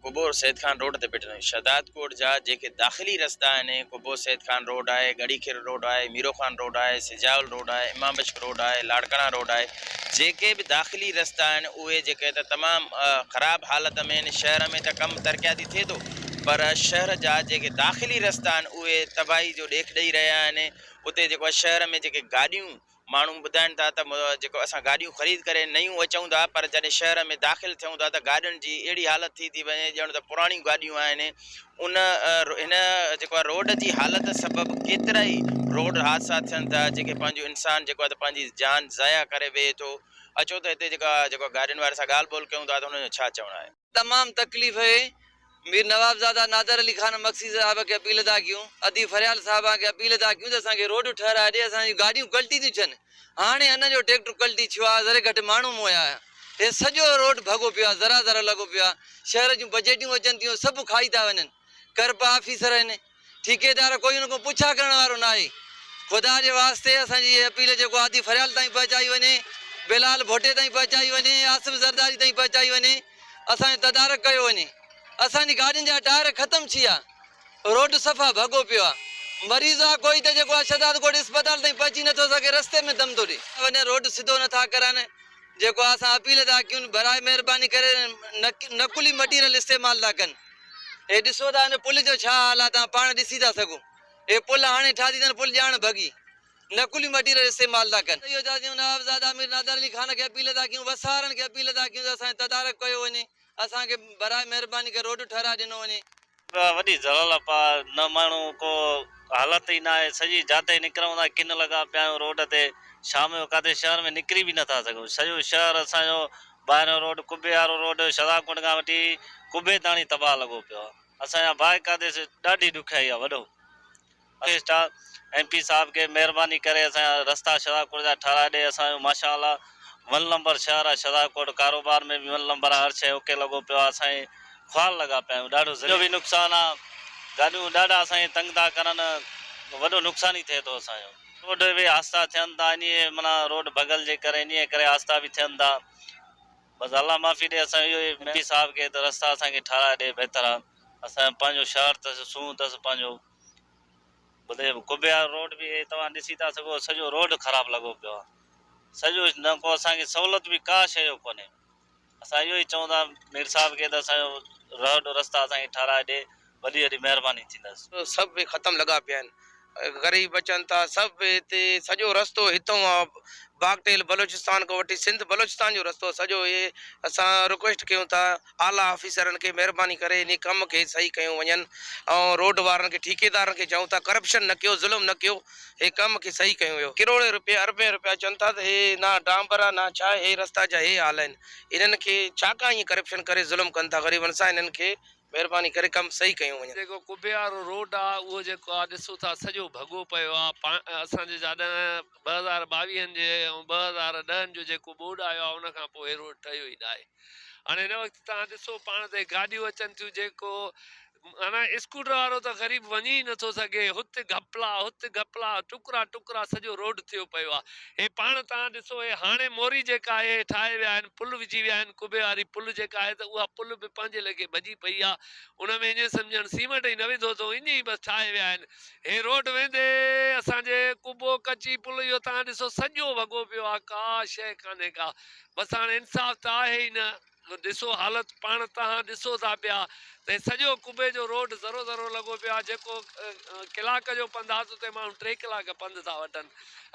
قبور Syed Khan road تي بيٺل آهيون. شهداد ڪوٽ جا جيڪي داخلي رستا آهن، قبور سيد خان روڊ آهي، ڳڙهي خر روڊ آهي، ميرو خان روڊ آهي، سجاول روڊ آهي، امام بشڪ روڊ آهي، لاڙڪاڻا روڊ آهي، جيڪي به داخلي رستا آهن اهي جيڪي ته تمام خراب حالت ۾ آهن، شهر ۾ ته ڪم ترقياتي ٿئي ٿو پر شهر جا جيڪي داخلي رستا آهن اهي تباهي جو ڏيک ڏئي رهيا آهن، اتي جيڪو آهي شهر ۾ جيڪي گاڏيون ماڻهو ٻڌائين ٿا ته جيڪو اسان گاڏيون خريد ڪري نيون اچون ٿا پر جڏهن شهر ۾ داخل ٿيون ٿا ته گاڏين جي اهڙي حالت ٿي ٿي وڃي ڄڻ ته پراڻيون گاڏيون آهن ان هن جيڪو آهي روڊ جي حالت سبب ڪيترائي روڊ حادثا ٿين ٿا جيڪي پنهنجو انسان جيڪو آهي ته پنهنجي جان ضايع ڪري ويهي ٿو اچو ته هتي جيڪا جيڪو گاڏين واري سان ڳالهه ٻولهه ڪيون ٿا ته هن جو ڇا چوڻ آهي. تمام تڪليف هئي. مير نوابزاده نادر علي خان مگسي صاحب کي اپيل ادا ڪيون. ادي فريال صاحبان کي اپيل ادا ڪيون ته اسان کي روڊ ٺهرائي ڏي اسان جون گاڏيون ڪلٽي ٿيون ڇن. هاڻي انهن جو ٽيڪٽر ڪلٽي ڇيو آهي ذري گهٽ ماڻهو موئي آهي. هي سڄو روڊ ڀڳو پيو آهي ذرا ذرا لڳو پيو آهي. شهر جون بجيٽون اچن ٿيون سڀ کائي ٿا وڃن. ڪرپا آفيسر هن. ٺيڪيدار ڪوئي ان کان پڇا ڪرڻ وارو ناهي. خدا جي واسطي اسان جي اهي اپيل جيڪو هادي فريال تائين پهچائي وڃي، بلال ڀٽي تائين پهچائي وڃي، آصف زرداري تائين پهچائي وڃي، اسان جو تدارڪ ڪيو وڃي. اسان جي گاڏين جا ٽائر ختم ٿيا، روڊ صفا ڀڳو پيو آ. مريض آ ڪوئي ته جيڪو اشهداد ڳوٺ اسپتال تائين پهچي نه ٿو سگهي رستي ۾ دم ٿو ڏئي. وڃن روڊ سڌو نه ٿا ڪرن. جيڪو آ اسان اپيل ٿا ڪيون، براء مهرباني ڪري نقلي مٽيريل استعمال ٿا ڪن. هي ڏسو ته ان پل جو ڇا حال آهي توهان پاڻ ڏسي ٿا سگهون هي پل هاڻي ٺاهجي ٿا ان پل ڄاڻ ڀڳي نقلي مٽيريل استعمال ٿا ڪن. اهو چئي اسين نوابزاده امير نادر علي خان کي اپيل ٿا ڪيون وس وارن کي اپيل ٿا ڪيون ته اسان کي تدارڪ ڪيو وڃي اسان کي براء مهرباني ڪري روڊ ٺهرائي ڏنو وڃي. اها وڏي ضلال اپا نه ماڻهو ڪو حالت ئي ناهي سڄي جاتئي نڪرون ٿا ڪن لڳا پيا آهيون روڊ تي شام جو ڪاٿي شهر ۾ نڪري به نٿا سگهون سڄو شهر اسان جو ٻاهريون روڊ قبي وارو روڊ شھزاد ڪنڊ کان وٺي قبي تاڻي تباھ لڳو پيو آ اسان جا باھ قادي سي ڏاڍي ڏکيائي آ وڏو اريسٽ آ ايم پي صاحب کي مھرباني ڪري اسان جا رستا شھزاد ڪنڊ جا ٺھرائي ڏي اسان جو ماشا الله ون لمبر شھر آ شھزاد ڪنڊ ڪاروبار ۾ به ون لمبر آ ھر شئي اوڪي لڳو پيو آ اسان خوار لڳا پيا آھيون ڏاڍو ذريعو به نقصان آ گاڏيون ڏاڍا اسان کي تنگ ٿا ڪرن وڏو نقصان ئي ٿئي ٿو اسان جو. روڊ به آھسته ٿين ٿا انھيء معنيٰ روڊ ڀڳل جي ڪري انھيء ڪري آھسته به ٿين ٿا بس الله معافي ڏي اسان اھو ايم پي صاحب کي ته رستا اسان کي ٺھرائي ڏي بھتر آ اسان پنھنجو شھر ته سونھون تس پنھنجو ٻڌي ڪبيار روڊ به اھي توھان ڏسي ٿا سگھو سڄو روڊ خراب لڳو پيو آ سڄو نه ڪو اسان کي سھولت به ڪا شيء جو ڪونھي. اسان اهو ئي چئون ٿا مير صاحب کي ته اسان جو رهه ڏورستا اسان کي ٺهرائي ڏي وڏي وڏي مهرباني ٿيندس. سڀ به ختم لڳا پيا آهن غريب بچن ٿا سڀ به هتي سڄو رستو هتئون آ باگٽيل بلوچستان کان وٺي سنڌ بلوچستان جو رستو سڄو اهي اسان رڪويسٽ ڪيون ٿا اعليٰ آفيسرن کي مهرباني ڪري انهي ڪم کي صحيح ڪيون وڃن ۽ روڊ وارن کي ٺيڪيدارن کي چئون ٿا ڪرپشن نه ڪيو ظلم نه ڪيو هي ڪم کي صحيح ڪيون ويو. ڪروڙين روپيه اربين روپيا اچن ٿا ته هي نه ڊانبر آ نه ڇا هي رستا جا هي حال آهن انهن کي ڇا ڪا ائين ڪرپشن ڪري ظلم ڪن ٿا غريبن سان انهن کي مهرباني ڪري ڪم صحيح ڪيون وڃن. جيڪو قبي وارو روڊ آ اهو جيڪو آ ڏسو ٿا سڄو ڀڳو پيو آ اسان جي جا ڏهن ٻه هزار ٻاويهن جي ۽ ٻه هزار ڏهن جو جيڪو ٻوڏ آيو آ ان کان پوء هي روڊ ٺهيو ئي ناهي هاڻي هن وقت توهان ڏسو پاڻ تي گاڏيون اچن ٿيون جيڪو هن اسڪوٽر وارو ته غريب وڃي ئي نٿو سگهي، هت گهپلا هت گهپلا، ٽڪرا ٽڪرا سڄو روڊ ٿيو پيو آ. هي پاڻ توهان ڏسو هي هاڻي موري جيڪا آهي هي ٺاهي ويا آهن، پل وجهي ويا آهن، قبي واري پل جيڪا آهي ته اها پل به پنهنجي ليکي ڀڄي پئي آ، ان ۾ اڃ سمجهه ڄڻ سيمنٽ ئي نه وڌو اٿئون اڃ ئي بس ٺاهي ويا آهن. هي روڊ ويندي اسان جي قبو ڪچي پل اهو توهان ڏسو سڄو وڳو پيو آ ڪا شيء ڪانهي ڪا، بس هاڻي انصاف ته آهي ئي نه. نو ڏسو حالت پاڻ تهان ڏسو ٿا پيا ته هي سڄو قبي جو روڊ ذرو ذرو لڳو پيو آهي جيڪو ڪلاڪ جو پنڌ آهي ته اتي ماڻهو ٽي ڪلاڪ پنڌ ٿا وٺن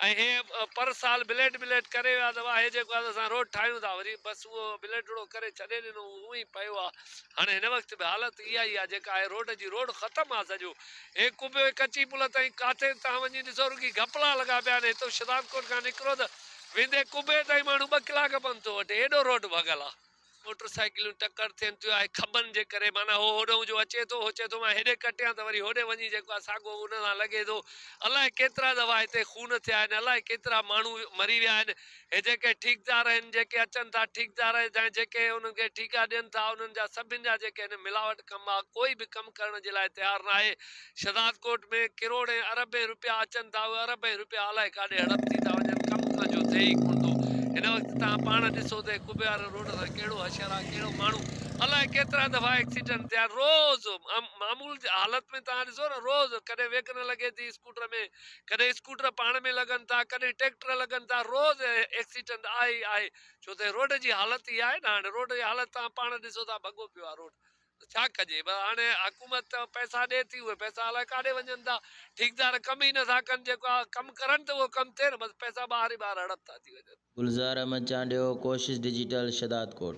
۽ هي پر سال بليٽ بليٽ ڪري ويا ته واهي جيڪو آهي ته اسان روڊ ٺاهيون ٿا وري بس اهو بليٽڙو ڪري ڇڏي ڏنو اهو اونهي ئي پيو آهي هاڻي هن وقت به حالت اها ئي آهي جيڪا آهي روڊ جي روڊ ختم آهي سڄو هي قبي ڪچي پل تائين ڪاٿي تهان وڃي ڏسو رڳي گهپلا لڳا پيا آهن هتو شدادڪوٽ کان نڪرو ته ويندي قبي تائين ماڻهو ٻه ڪلاڪ پنڌ ٿو وٺي ايڏو روڊ ڀڳل آ موٽر سائيڪليون ٽڪر ٿين ٿيون آهي کٻن جي ڪري معنيٰ هو هوڏهون جو اچي ٿو هو چئي ٿو مان هيڏي ڪٽيان ته وري هوڏي وڃي جيڪو آهي ساڳو ان سان لڳي ٿو الاء ڪيترا دفعا هتي خون ٿيا آهن الاء ڪيترا ماڻهو مري ويا آهن هي جيڪي ٺيڪدار آهن جيڪي اچن ٿا ٺيڪدار جا جيڪي انهن کي ٺيڪا ڏين ٿا انهن جا سڀن جا جيڪي آهن ملاوٽ ڪم آ ڪوئي به ڪم ڪرڻ جي لاء تيار ناهي شهداد ڪوٽ ۾ ڪروڙين اربين روپيا اچن ٿا اهي اربين روپيا الائي ڪاڏي هڙپ ٿي ٿا وڃن ڪم ڪان جو ٿئي ئي ڪونه ٿو هن وقت توهان پاڻ ڏسو ته ڪٻيار روڊ سان ڪهڙو حشر آ ڪهڙو ماڻهو الائي ڪيترا دفعا ايڪسيڊنٽ ٿيا روز معمول جي حالت ۾ توهان ڏسو نه روز ڪڏهن ويگنر لڳي ٿي اسڪوٽر ۾ ڪڏهن اسڪوٽر پاڻ ۾ لڳن ٿا ڪڏهن ٽيڪٽر لڳن ٿا روز ايڪسيڊنٽ آهي ئي آهي ڇو ته روڊ جي حالت ئي آهي نه هاڻي روڊ جي حالت توهان پاڻ ڏسو ٿا ڀڳو پيو آ روڊ ته ڇا ڪجي؟ بس هاڻي حڪومت ته پئسا ڏي ٿي، اهي پئسا الائي ڪاڏي وڃن ٿا. ٺيڪدار ڪم ئي نٿا ڪن، جيڪو ڪم ڪرن ته اهو ڪم ٿئي نه، بس پئسا ٻاهر ئي ٻاهر هڙپ ٿا ٿي وڃن. گلزار احمد چانڊيو، ڪوشش ڊجيٽل، شھدادڪوٽ.